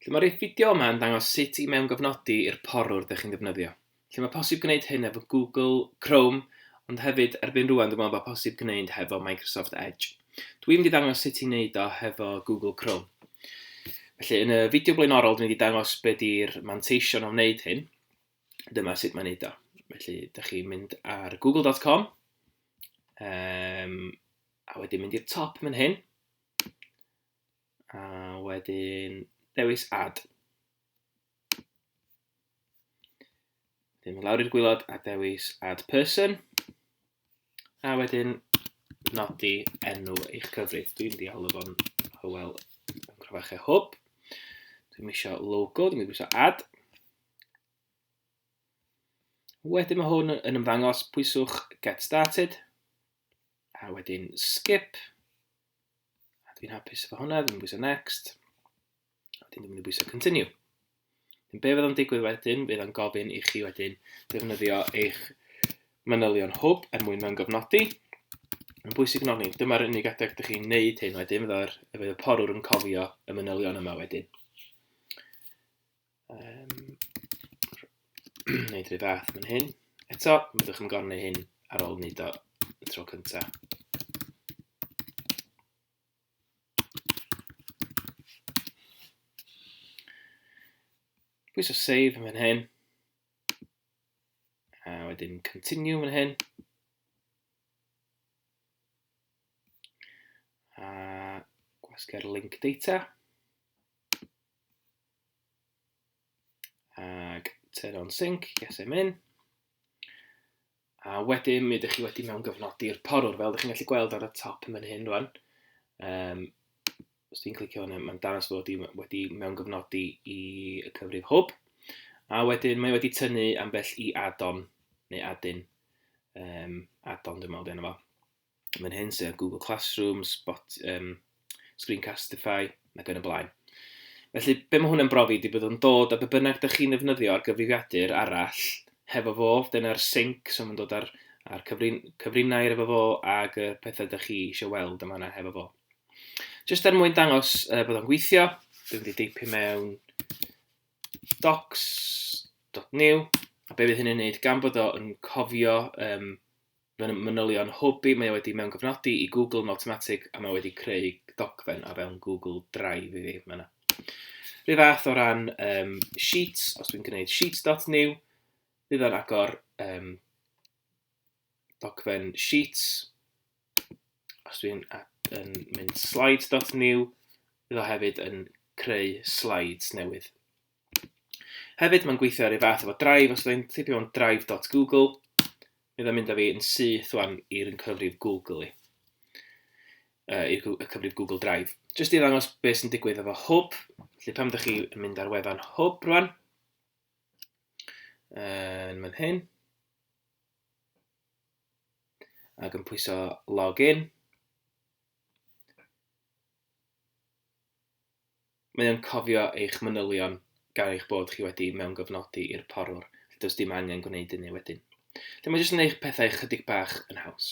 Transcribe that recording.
Felly mae'r fideo yma yn dangos sut i mewngyfnodi i'r porwr ydych chi'n ddefnyddio. Felly mae posib gwneud hyn efo Google Chrome, ond hefyd erbyn rwan dwi'n meddwl bod posib gwneud hefo Microsoft Edge. Dwi'n mynd i ddangos sut i wneud o hefo Google Chrome. Felly yn y fideo blaenorol dwi'n mynd i dangos beth ydy'r manteision o wneud hyn. Dyma sut mae'n wneud o. Felly ydych chi'n mynd ar google.com um, a wedyn mynd i'r top yn hyn. A wedyn dewis add. Wedyn mynd lawr i'r gwylod a dewis add person. A wedyn nodi enw eich cyfrif. Dwi'n dialw fo'n Hywel yn Crafachau Hwb. Dwi'n eisiau logo, dwi'n mynd eisiau add. Wedyn mae hwn yn ymddangos, pwyswch get started. A wedyn skip. A dwi'n hapus efo hwnna, dwi'n bwysau next. A dwi'n mynd i bwysau continue. Yn be fydd o'n digwydd wedyn, bydd o'n gofyn i chi wedyn defnyddio eich manylion hwb er mwyn mewn gofnodi. Yn bwysig yn ofni, dyma'r unig adeg ydych chi'n neud hyn wedyn, fydd y porwr yn cofio y manylion yma wedyn. Um, neud rhyw fath fan hyn. Eto, byddwch yn gorfod hyn ar ôl wneud o y tro cyntaf. Pwys o save yn fan hyn. A wedyn continue yn hyn. A gwasgu'r link data. Ac turn on sync, yes I'm in. A wedyn mi ydych chi wedi mewn gyfnodi'r porwr, fel ydych chi'n gallu gweld ar y top yn mynd hyn rwan. Um, os ti'n clicio hwnna, mae'n dangos bod wedi, wedi mewn gyfnodi i y cyfrif hwb. A wedyn mae wedi tynnu ambell i add-on neu add-in. Um, add-on dwi'n meddwl dyn nhw fo. Mae'n hyn sydd â Google Classroom, Spot, um, Screencastify, ac yn y blaen. Felly, be mae hwnna'n brofi ydy byddwn dod a be bynnag dych chi'n ddefnyddio ar gyfrifiadur arall hefo fo, dyna'r sync, so mae'n dod ar, ar cyfrin, cyfrinau efo fo ag y pethau dych chi eisiau weld yma yna hefo fo. Just er mwyn dangos uh, bod o'n gweithio, dwi'n mynd i deipio mewn docs.new, a be fydd hynny'n neud gan bod o'n cofio um, Mae'n manylion hwb i, mae o wedi mewngofnodi i Google yn awtomatig a mae o wedi creu dogfen o fewn Google Drive i fi. Mae yna rhyw fath o ran um, Sheets, os dwi'n gwneud Sheets.new, bydd o'n agor um, dogfen Sheets. Os dwi'n yn mynd Slides.new, bydd o hefyd yn creu slides newydd. Hefyd, mae'n gweithio ar ei fath efo Drive, os ydyn tipio mewn drive.google, mi ddod mynd â fi yn syth wan i'r un cyfrif Google i, uh, i'r cyfrif Google Drive. Jyst i ddangos beth sy'n digwydd efo Hwb, felly pam ydych chi yn mynd ar wefan Hwb rwan, yn mynd hyn, ac yn pwyso login, Mae o'n cofio eich manylion gan eich bod chi wedi mewngyfnodi i'r porwr, felly does dim angen gwneud hynny wedyn. Felly mae jyst yn gwneud pethau chydig bach yn haws.